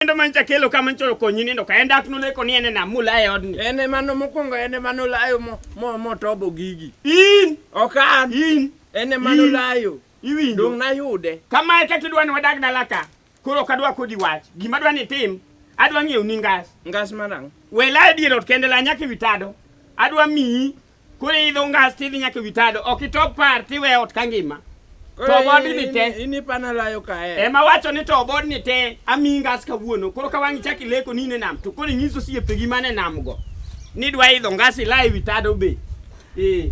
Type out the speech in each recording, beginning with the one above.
Endo man chakelo kama nchoro konyi nindo ka enda aknu leko ni ene na mula e odni. Ene mano mokongo ene mano layo mo mo mo tobo gigi. In. Okan. In. Ene mano layo. Iwinjo. Dong na yude. Kama e kati dwani wadag na laka. Kuro kadwa kodi wach. Gima dwani tim. Adwa ng'eyo ni ngas. Ngas manang. Wela e dier ot kende la nyaki vitado. Adwa miyi. Koro idho ngas tidhi nyaka ewi tado, ok itop par tiwe ot ka ngima. To obodi ni te. In ipana layo kae. Ema wacho ni to obodi ni te ami ngas kawuono. Koro ka wang'i chaki leko ni ne nam to koro nyiso siepegi mane nam go. Ni dwa idho ngas ila ewi tado be. Eh.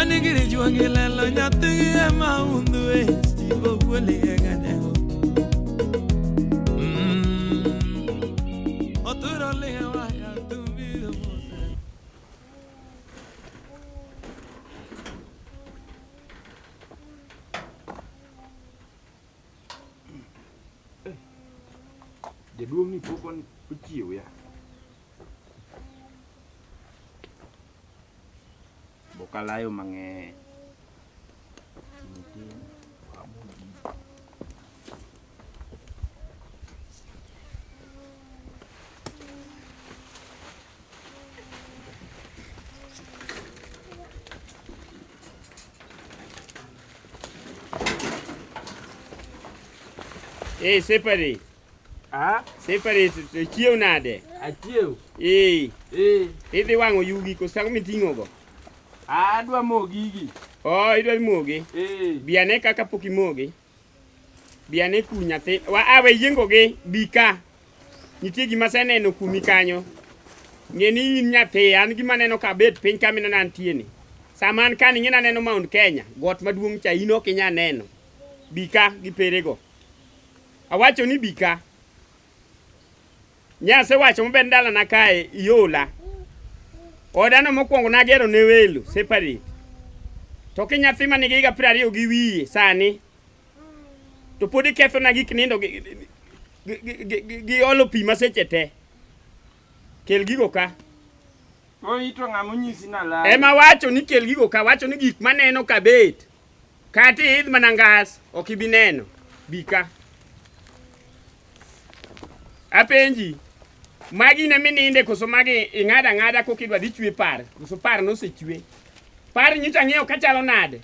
Anigiri juangi lelo nyathi ema undu e stivo kweli e ganego. Mm. Oturo lihe waya tumbiro mose. Jaduong' ni pok on- ochiew ya. Bokalayo mang'eny. Ei, Separi. Ah, separate to chiew nade? Achiew. Eh. Eh. Idhi wang'o yugi koso ang'o miting'o go? Ah, adwa mo gigi. Oh, idwa mogi? Eh. Bi ane kaka pok imogi. Bi ane ku nyathi. Wa awe ah, yiengo gi bi ka. Nitie gima seneno kumi kanyo. Ng'e ni in nyathi, an gima neno ka bet piny ka minena antie ni. Sama an ka ni ng'ina neno Mount Kenya, got maduong' cha in ok inya neno. Bi ka gi perego. Awacho ni bika. Nyase wacho maber ndala na kae iola. Odano mokwongo nagero ne welo separate. To ki nyathi ma nigi higa piero ariyo gi wiye sani to pod ikethona gik nindo gi olo pi maseche te. Kel gigo ka. Oito ng'ama onyisi na lal. Ema wacho ni kel gigo ka wacho ni gik maneno kabet. Kati idh mana ngas, ok ibi neno. Bika. Apenji, magi ne mininde koso magi ing'ada ng'ada kokidwa dhi chwe par, koso par nosechwe. Par nyicha ng'eyo kachalo nade?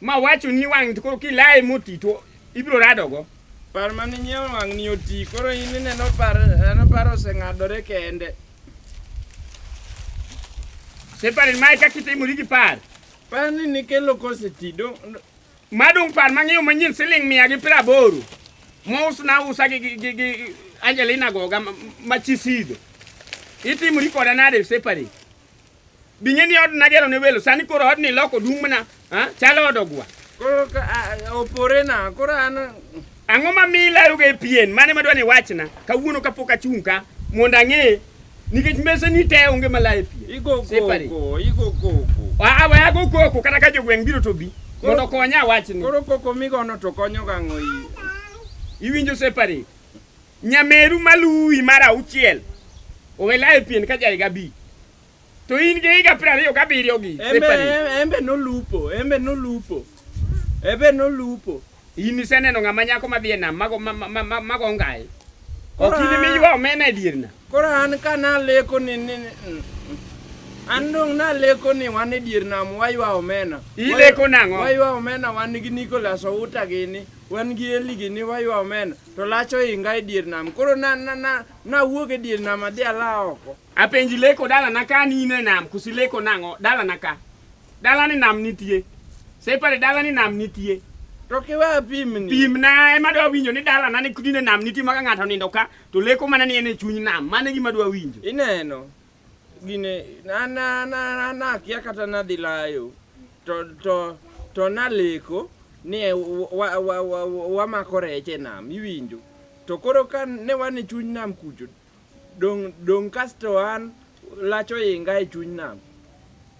Ma wacho ni wang' koro kilaye moti to ibiro radogo. Par mane nyiewo wang' ni oti, koro in ineno par, en par oseng'adore kende. Separin mae kakitimo rigi par. Par ni nikelo kose ti dong madung par mang'iew manyien siling mia gi piero aboro mousna usa gi, gi, gi, gi Angelina Goga ma- ma chisido itimori koda nade separate bing'e ni od nagero ne welo sani koro od ni loko dung' mana ha? chalo od ogwa koro ka- a- a- opore na koro an Ang'o ma mi ilayoga e pien? Mane madwa ni wachna kawuono kapok achung' ka mondo ang'e nikech meseni te onge malayo e pien. Igo koko, igo koko. Ah, ah, we ago koko kata ka jogweng' biro to bi mondo okonya wachni. Koro koko migono to konyo gang'o iyi. Iwinjo separate. Nyameru maluwi mar auchiel owelayo e pien ka jaiga bi. To in gi higa piero ariyo gabiriyo gi embe nolupo embe nolupo embe nolupo in iseneno ng'ama nyako madhi e nam mago mago ngai ok in miywa omena e dier na koro an ka naleko ni an dong' naleko ni wan e dier nam waywa omena ileko nang'o waywa omena wan gi Nicholas Outa gini wan gi Eli gini waywa omena to lacho inga e dier nam koro na na na nawuog e dier nam adhi ala oko Apenji leko dala na ka ni ne nam kusi leko nango dala na ka. Dala ni nam nitie. Separe dala ni nam nitie. To kiwa pimni. Pimna ema dwa winjo ni dala na ni kudi ne nam nitie maka ng'ato nindo ka to leko mana ni en e chuny nam. Mane gima dwa winjo. Ineno. Gine na na na na kia kata na dilayo. To to to na leko ni e, wamako rech e nam iwinjo to koro ka ne wan e chuny nam kucho Dong' dong' kasto an lach oinga e chuny nam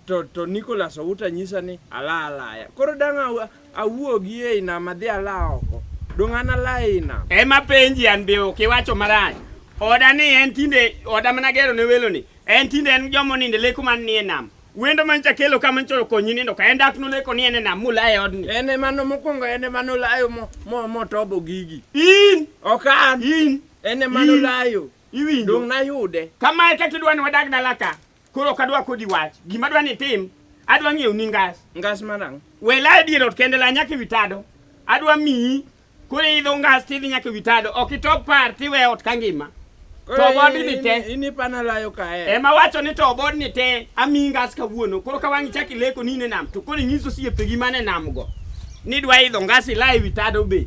to, to Nicholas Outa nyisa ni ala alaya. Koro dang' aw- awuogi ei nam adhi ala oko. Dong' an ala ei nam. Ema penji an be ok iwacho marach. Oda ni en tinde oda mana gero ne welo ni. En tinde en jomo ninde leko man ni e nam. Wendo man chakelo kama nchoro konyi nindo ka en dak no leko ni en e nam mula e odni. En emano mokwongo en emano layo mo, mo, motobo gigi. In Ok an. in En ema In- nolayo. Iwinjo? Dong' nayude. Kama e kaka idwa ni wadag dala ka. Koro ok adwa kodi wach. Gima adwa ni itim, adwa ng'iewo ni ngas. Ngas manang'. Wela e dier ot kende la nyaka ewi tado. Adwa miyi. Koro idho ngas tidhi nyaka ewi tado. Ok itop par tiwe ot ka ngima. Koro To bod in- ni te. in- In ipana layo kae. Ema wacho ni to bod ni te amiyi ngas kawuono. Koro ka wang'i chak ileko ni in e nam to koro inyiso osiepegi man e nam go. Ni dwa idho ngas ila ewi tado be.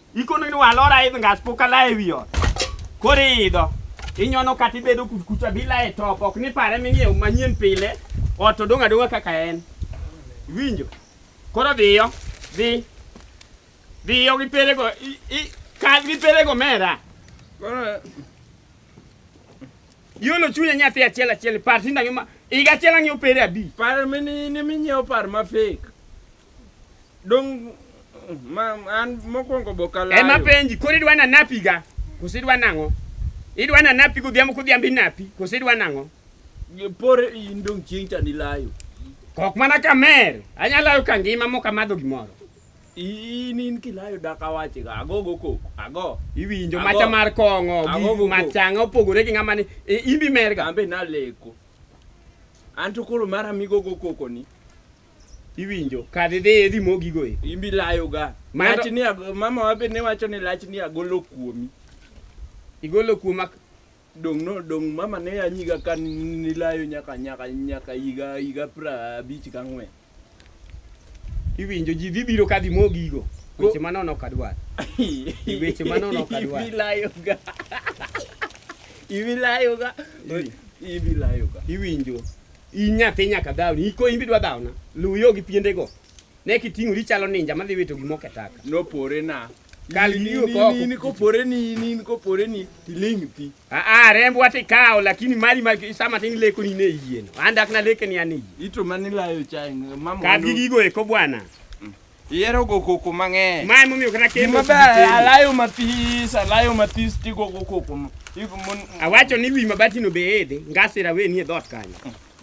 Ikono ni walora idh ngas poka la e wiyo. Koro idho. Inyono kata ibedo kucha bila e top ok ni pare ming'iew manyien pile ot odong' adong'a kaka en. Winjo. Koro dhiyo. Dhi. Dhiyo gi pelego. Kal gi pelego mera. Koro Yolo chunya nyathi achiel achiel par tinda ngima. Iga achiel ang'iew pere abi. Par mini ni minyiew par ma fake. Dong ma an mokwongo bokalayo. Ema penji koro idwa nanapi ga? Koso idwa nang'o? Idwa nanapi godhiambo kodhiambo inapi? Koso idwa nang'o? Por in dong chieng' cha nilayo. Kok mana kamer. Anyalayo ka ngima mok amadho gimoro. In in kilayo dak awache ga ago go kok ago. Iwinjo macha mar kong'o gi machanga opogore gi ng'ama ni e, imbi merga. Ambe naleko. Anto koro mara migo go koko ni. iwinjo kadhi dhi idhi mogigo e imbi layo ga lach ni mama wabe ne wacho ni lach ni agolo kuomi igolo kuoma dong no dong mama ne anyiga ka ni layo nyaka nyaka nyaka yiga yiga pra abich ka ng'we iwinjo ji dhi biro ka dhi mogigo weche manono ok adwar weche manono ok adwar ibi layo ga ibi layo ga ibi layo ga iwinjo Inyathi nyaka dhawni, iko imbi dwa dhawna. Luw yo gi piendego. Ne kiting'ori ichalo ninja madhi wito gima oke taka. Nopore na. Kal gi yo koko. Nini kopore ni, nini kopore ni, tiling' ti. Ah, ah, rembwa tikawo lakini mali ma sama tin leko ni ne yieno. Andak na leke ni ane yie. Ito mani layo chai. Mama. Kadhi gigo eko bwana. Ihero go koko mang'eny. Ma emomiyo kata kendo. Gima ber alayo mathis, alayo mathis tigo go koko. Awacho ni wi mabatino be edhe, ngasira we nie dhoot kanyo.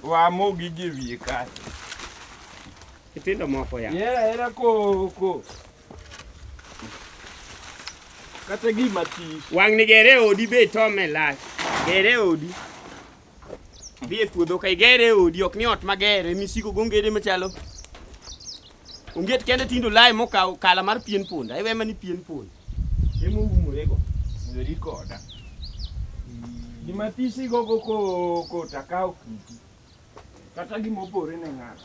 Wamo gigi wiye kanyo. Nyithindo moko ya. Ihero ahera koko. Kata gima this. Wang' ni gere odi be itome lach. Gere odi. Dhi e puodho ka igere e odi ok ni ot mager ema isiko go ongede machalo. Onget kende tindo lae mokawo kala mar pien punda. Iwe ema ni pien punda. Ema oumorego. Weri koda. Gima tisi gogo ko ko takawo kiti. Kata gima opore ne ng'ato.